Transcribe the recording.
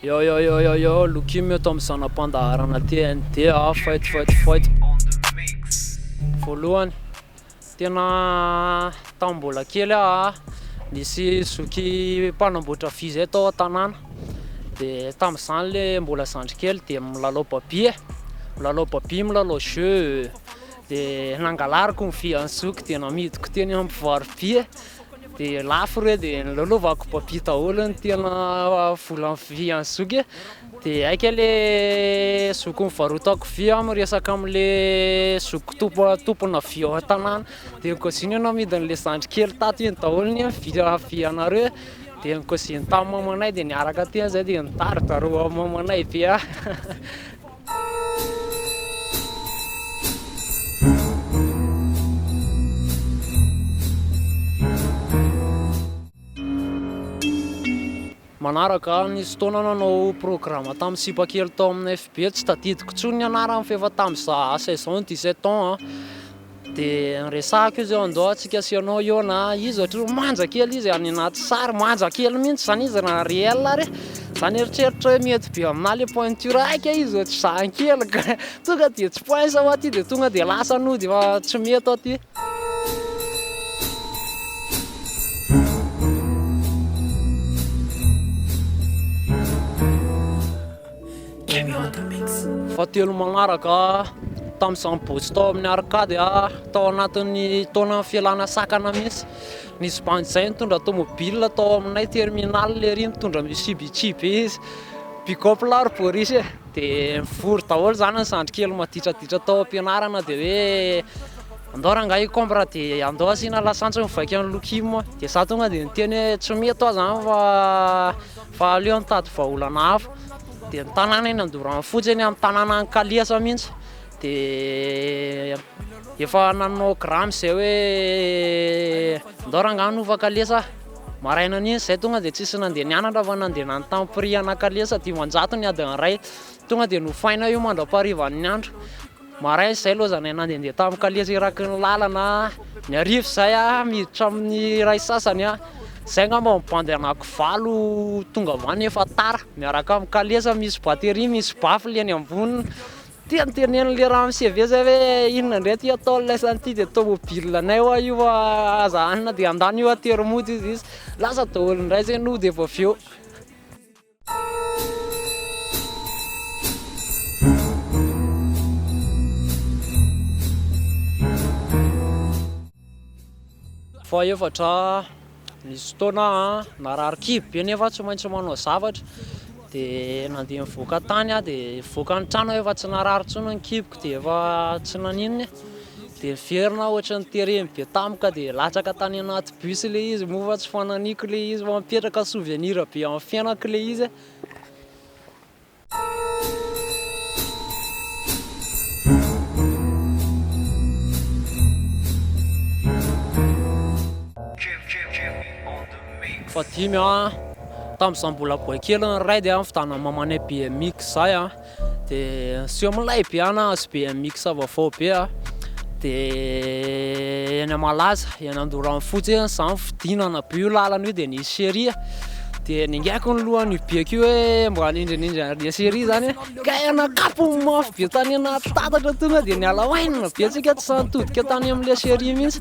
Yo yo yo yo yo, Lokim eto amin'ny zana-pandaharana TNT ah, fight fight fight. Voalohany, tena tamin'ny mbola kely ah, nisy zoky mpanamboatra vy zay tao an-tanàna, de tamin'izany le mbola zandry kely de milalao babia, milalao babia, milalao jeux, dia nangalariko ny fiantsoko dia namidiko teny amin'ny mpivarobe dia lafo re dia nilalaovako babia daholo ny tena volan'ny fiantsoko e dia aika le zoko nivarotako vy aho miresaka amin'le zoko tompo tompona vy ao an-tanàna dia ny kaozinay namidy an'le zandry kely tato iny daholo ny vy vy anareo dia ny kaoziny tamin'ny mamanay dia niaraka teny izay dia nitari-daharo mamanay be aho Manaraka, nisy fotoana nanao programa tamin'ny sipa kely tao amin'ny FB, tsy tadidiko intsony ny anarany fa efa tamin'izaho âge saison, dix sept ans, De resahako izy eo andao atsika sy ianao eo na izy ohatry manja kely izy any anaty sary manja kely mintsy zany izy raha réel ary zany eritreritra hoe mety be aminah le pointure aika izy ohatry zany kely ka tonga de tsy pince ao aty de tonga de lasa nody fa tsy mety ao aty. Emirata Mix. Fahatelo manaraka tamin'izaho nibotsy tao amin'ny Arcade tao anatin'ny taona fialana sakana mihitsy. Nisy bandy izay nitondra tomobile tao aminay terminal ery nitondra Mitsubishi be izy, pick-up lahy ry Boris e! dia nivory daholo izany ny zandry kely maditraditra tao am-pianarana dia hoe andao rangahy hikombra dia andao asiana lasantsy mivaika an'i Lokim dia izaho tonga dia niteny hoe tsy mety hoa izany fa Fa aleo mitady vahaolana hafa, dia ny tanàna eny Andorano fotsy eny amin'ny tanànan'i Kaliasa mihitsy dia efa nanao grama izay hoe ndao rangahy nova kalesa aho, maraina an'iny izay tonga dia tsisy nandeha nianatra fa nandeha nanontany prix ana kalesa, dimanjato ny adin'ny iray, tonga dia nofaina io mandra-paharivan'ny andro. Maraina izay aloha izahay nandehandeha tamin'ny kalesy eraky ny lalana, ny hariva izay miditra amin'ny iray sasany, izay angamba ny bandy anaky valo tonga avy any efa tara, miaraka amin'ny kalesa misy batterie, misy baffle eny amboniny, dia notenenin'ilay ramoseve izay hoe inona indray ity ataon'ilay samy ity dia tomobil anay hoa io fa aza hanina dia handany hoa tery mody izy, lasa daholo indray izay nody avy eo. Fahefatra, nisy fotoana aho narary kibo be nefa tsy maintsy manao zavatra dia nandeha nivoaka tany aho dia nivoaka ny trano aho efa tsy narary intsony ny kiboko dia efa tsy naninona e. Dia niverina aho ohatry ny tereny be tampoka dia latsaka tany anaty bus ilay izy moa fa tsy fananiko ilay izy fa mipetraka souvenir be amin'ny fiainako ilay izy eh. Fahadimy an, tamin'izaho mbola boay kely ny raha dia nivitana mamanay BMX izahay an, De asio amilay be an azo be an mix vaovao be a de eny a malaza eny andorano fotsy eny za fidinana be io lalana io de nisy cherie a de ningaiko ny lohany io beko io hoe mba hanindrinindry any le cherie zany hoe kay ana kapony mafy be tany anaty tatatra tonga de niala oainina be tsika tsy sahy nitodika tany amle cherie mintsy